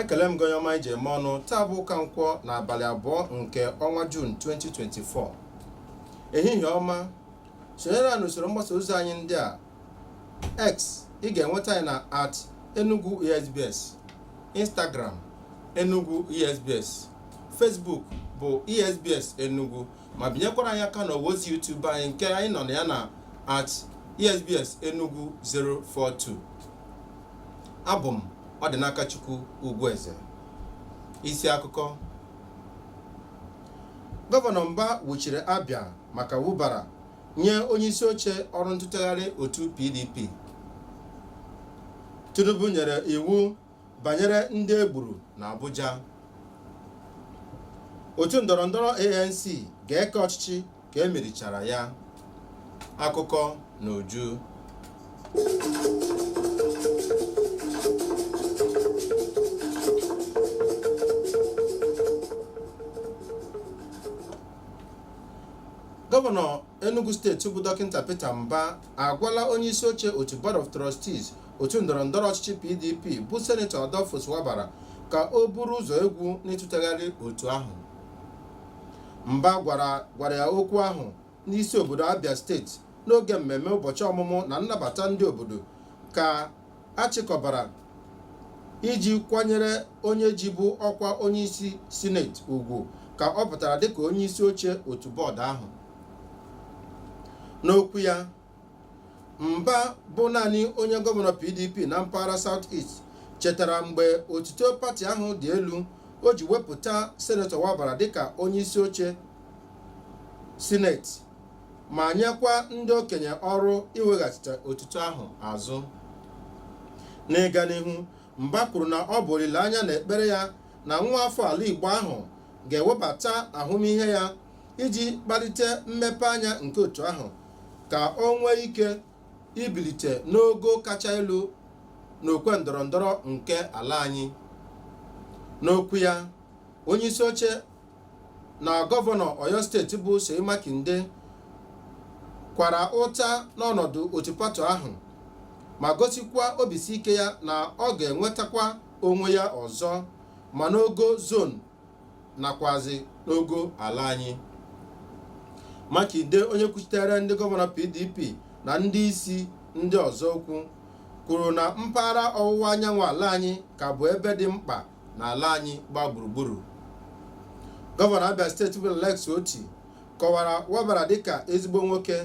ekele m gị onye ọma e ji eme ọnụ taa bụ ụka nkwọ na abalị abụọ nke ọnwa Jun 2024 ehihie ọma sonyere anyị n'usoro mgbasa ozi anyị ndị a x ị ga-enweta anyị na at enugu esbs instagram enugu esbs facebook bụ esbs enugu ma binyekwara anyị aka n'ọwa ozi YouTube anyị nke anyị nọ na ya na at esbs enugu 042 abụ m Ọdịnakachukwu Ugwueze isi akụkọ gọvanọ mba wuchiri Abia maka Wabara nye onye isi oche ọrụ ntụtegharị otu pdp tinubu nyere iwu banyere ndị e gburu n'Abuja otu ndọrọ ndọrọ ANC ga-eke ọchịchị ka e merichara ya akụkọ n'uju gọvanọ Enugu steeti bụ dọkịta Peter Mba agwala onye isi oche otu Board of Trustees otu ndọrọ ndọrọ ọchịchị PDP bụ senetọ Adolphus Wabara ka o buru ụzọ egwu n'ịtụtegharị otu ahụ Mba gwara gwara ya okwu ahụ n'isi obodo Abia steeti n'oge mmemme ụbọchị ọmụmụ na nnabata ndị obodo ka a chịkọbara iji kwanyere onye jibu ọkwa onyeisi sineti ugwu ka ọ pụtara dịka onyeisi oche otu bọọdụ ahụ n'okwu ya mba bụ naanị onye gọvanọ pdp na mpaghara south east chetara mgbe otuto pati ahụ dị elu o ji wepụta senetọ wabara dịka onyeisi oche sineti ma nyekwa ndị okenye ọrụ iweghachite otuto ahụ azụ n'ịga n'ihu mba kwuru na ọ bụ olileanya na ekpere ya na nwa afọ ala igbo ahụ ga-ewebata ahụmịhe ya iji kpalite mmepe anya nke otu ahụ ka o nwee ike ibilite n'ogo kacha elu n'okwe ndọrọ ndọrọ nke ala anyị n'okwu ya onye isi oche na gọvanọ Oyo steeti bụ Seyi Makinde kwara ụta n'ọnọdụ otu pati ahụ ma gosikwa obisi ike ya na ọ ga-enwetakwa onwe ya ọzọ ma n'ogo zon nakwazi n'ogo ala anyị Makinde onye kwuchitere ndị gọvanọ PDP na ndị isi ndị ọzọ okwu kwuru na mpaghara ọwụwa anyanwụ ala anyị ka bụ ebe dị mkpa n'ala anyị gba gburugburu gọvanọ abia steeti bụ Alex Otti kọwara Wabara dịka ezigbo nwoke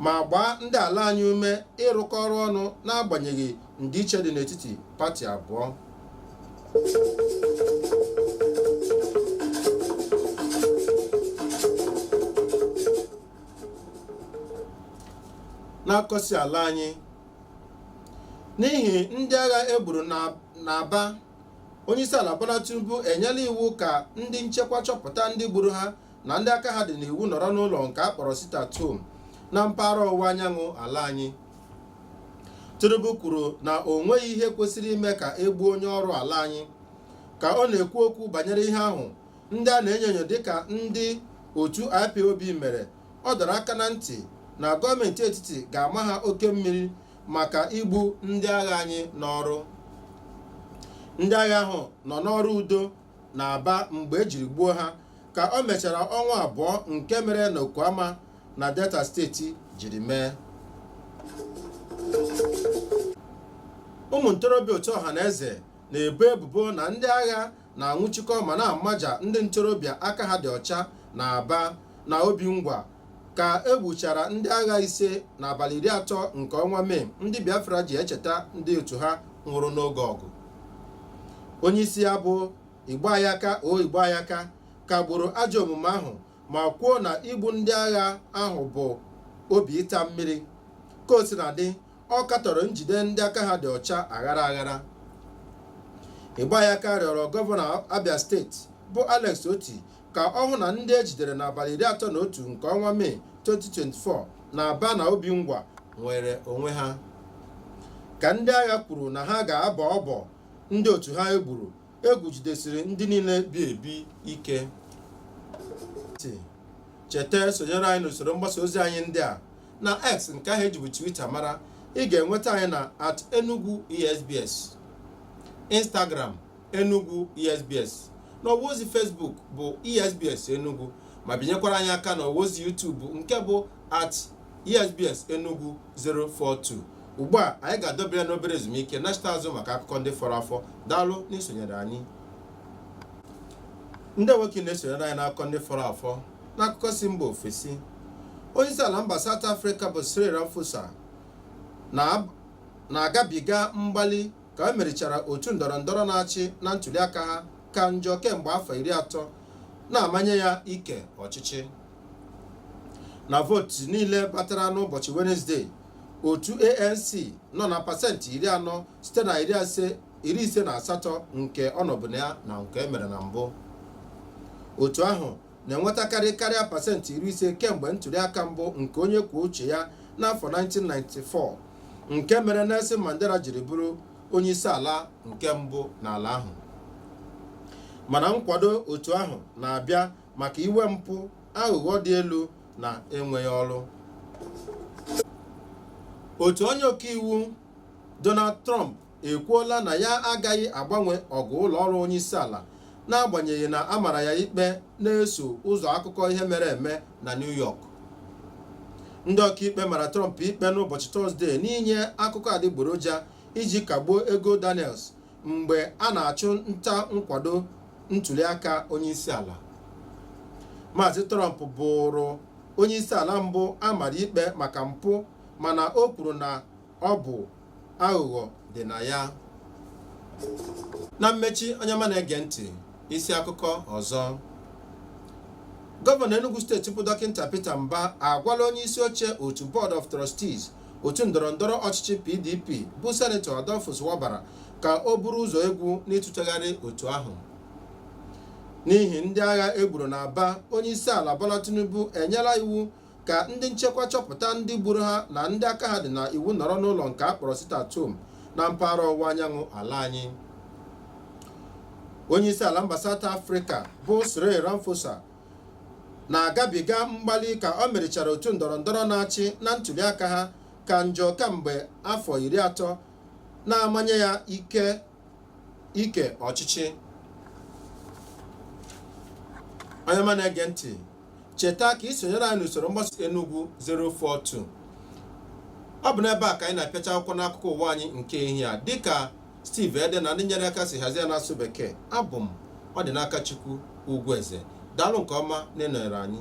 ma gbaa ndị ala anyị ume ịrụkọ ọrụ ọnụ n'agbanyeghị ndịiche dị n'etiti pati abụọ n'akụkọ si ala anyị n'ihi ndị agha e gburu n'Aba onyeisiala Bola Tinubu enyela iwu ka ndị nchekwa chọpụta ndị gburu ha na ndị aka ha dị n'iwu nọrọ n'ụlọ nke a kpọrọ sit at home na mpaghara ọwụwa anyanwụ ala anyị Tinubu kwuru na o nweghị ihe kwesịrị ime ka e gbuo onye ọrụ ala anyị ka ọ na-ekwu okwu banyere ihe ahụ ndị a na-enyo enyo dịka ndị otu IPOB mere ọ dọrọ aka na ntị na gọọmenti etiti ga-ama ha oke mmiri maka igbu ndị agha anyị n'ọrụ ndị agha ahụ nọ n'ọrụ udo na Aba mgbe e jiri gbuo ha ka o mechara ọnwa abụọ nke mere na Okuama na Delta steeti jiri mee ụmụ ntorobịa otu Ọhaneze na-ebo ebubo na ndị agha na-anwụchikọ ma na-amaja ndị ntorobịa aka ha dị ọcha na Aba na Obingwa ka e gbuchara ndị agha ise n'abalị iri atọ nke ọnwa Mee ndị Biafra ji echeta ndị otu ha nwụrụ n'oge ọgụ onye isi ya bụ Igboayaka O Igboayaka kagburu ajọ omume ahụ ma kwuo na igbu ndị agha ahụ bụ obi ịta mmiri ka o sina dị ọ katọrọ njide ndị aka ha dị ọcha aghara aghara Igboayaka rịọrọ gọvanọ abia steeti bụ Alex Otti ka ọ hụ na ndị e jidere n'abalị iri atọ na otu nke ọnwa mee 2024 na Aba na Obingwa nwere onwe ha ka ndị agha kwuru na ha ga-abọ ọbọ ndị otu ha e gburu egwu jidesiri ndị niile bi ebi ike cheta sonyere anyị n'usoro mgbasa ozi anyị ndị a na x nke ahụ e jibu twitter mara ị ga-enweta anyị na at enugu esbs instagram enugu esbs na ọwa ozi facebook bụ esbs enugu ma binyekwara anyị aka na ọwa ozi youtube nke bụ at esbs enugu 042 ugbu a anyị ga-adọba ya n'obere ezumike nachita azụ maka akụkọ ndị fọrọ afọ daalụ n'isonyere anyị ndeewo kwa n'isonyere anyị n'akụkọ ndị fọrọ afọ n'akụkọ si mba ofesi onye isi ala mba South Africa bụ Cyril Ramaphosa na-agabiga mgbali ka e merichara otu ndọrọ ndọrọ na-achị na ntuliaka ha ka njọ kemgbe afọ iri atọ na-amanye ya ike ọchịchị na vootu niile batara n'ụbọchị wenezdee otu ANC nọ na pasentị iri anọ site na iri ise na asatọ nke ọ nọbu na ya na nke e mere na mbụ otu ahụ na-enwetakarị karịa pasentị iri ise kemgbe ntụliaka mbụ nke onye kwuo uche ya n'afọ 1994 nke mere Nelson Mandela jiri bụrụ onye isi ala nke mbụ n'ala ahụ mana nkwado otu ahụ na-abịa maka iwe mpụ aghụghọ dị elu na enweghị ọrụ otu onye ọkaiwu Donald Trump ekwuola na ya agaghị agbanwe ọgụ ụlọ ọrụ onye isi ala n'agbanyeghị na a mara ya ikpe na-eso ụzọ akụkọ ihe mere eme na New York ndị ọkaikpe mara Trump ikpe n'ụbọchị Tọzdee n'inye akụkọ adịgboroja iji kagbuo ego Daniels mgbe a na-achụ nta nkwado ntuliaka onyeisiala Maazị Trump bụrụ onyeisiala mbụ a mara ikpe maka mpụ mana o kwuru na ọ bụ aghụghọ dị na ya na mmechi onye ọma na-ege ntị isi akụkọ ọzọ gọvanọ Enugu steeti bụ dọkịta Peter Mba agwala onye isi oche otu Board of Trustees otu ndọrọndọrọ ọchịchị PDP bụ senetọ Adolphus Wabara ka o buru ụzọ egwu n'ịtụtegharị otu ahụ n'ihi ndị agha e gburu na Aba onye isi ala Bola Tinubu enyela iwu ka ndị nchekwa chọpụta ndị gburu ha na ndị aka ha dị na iwu nọrọ n'ụlọ nke a kpọrọ sit at home na mpaghara ọwụwa anyanwụ ala anyị onye isi ala mba South Africa bụ Cyril Ramaphosa na-agabiga mgbali ka o merichara otu ndọrọndọrọ na-achị na ntuliaka ha ka njọ kamgbe afọ iri atọ na-amanye ya ike ike ọchịchị onye ọma na-ege ntị cheta ka i sonyere anyị n'usoro mgbasa Enugu 042 ọ bụ n'ebe a ka anyị na-apịacha akwụkwọ n'akụkọ ụwa anyị nke ehihie a dịka Steve Ede na ndị nyere aka si hazie n'asụ bekee abụ m Ọdịnakachukwu Ugwueze daalụ nke ọma na ịnọnyere anyị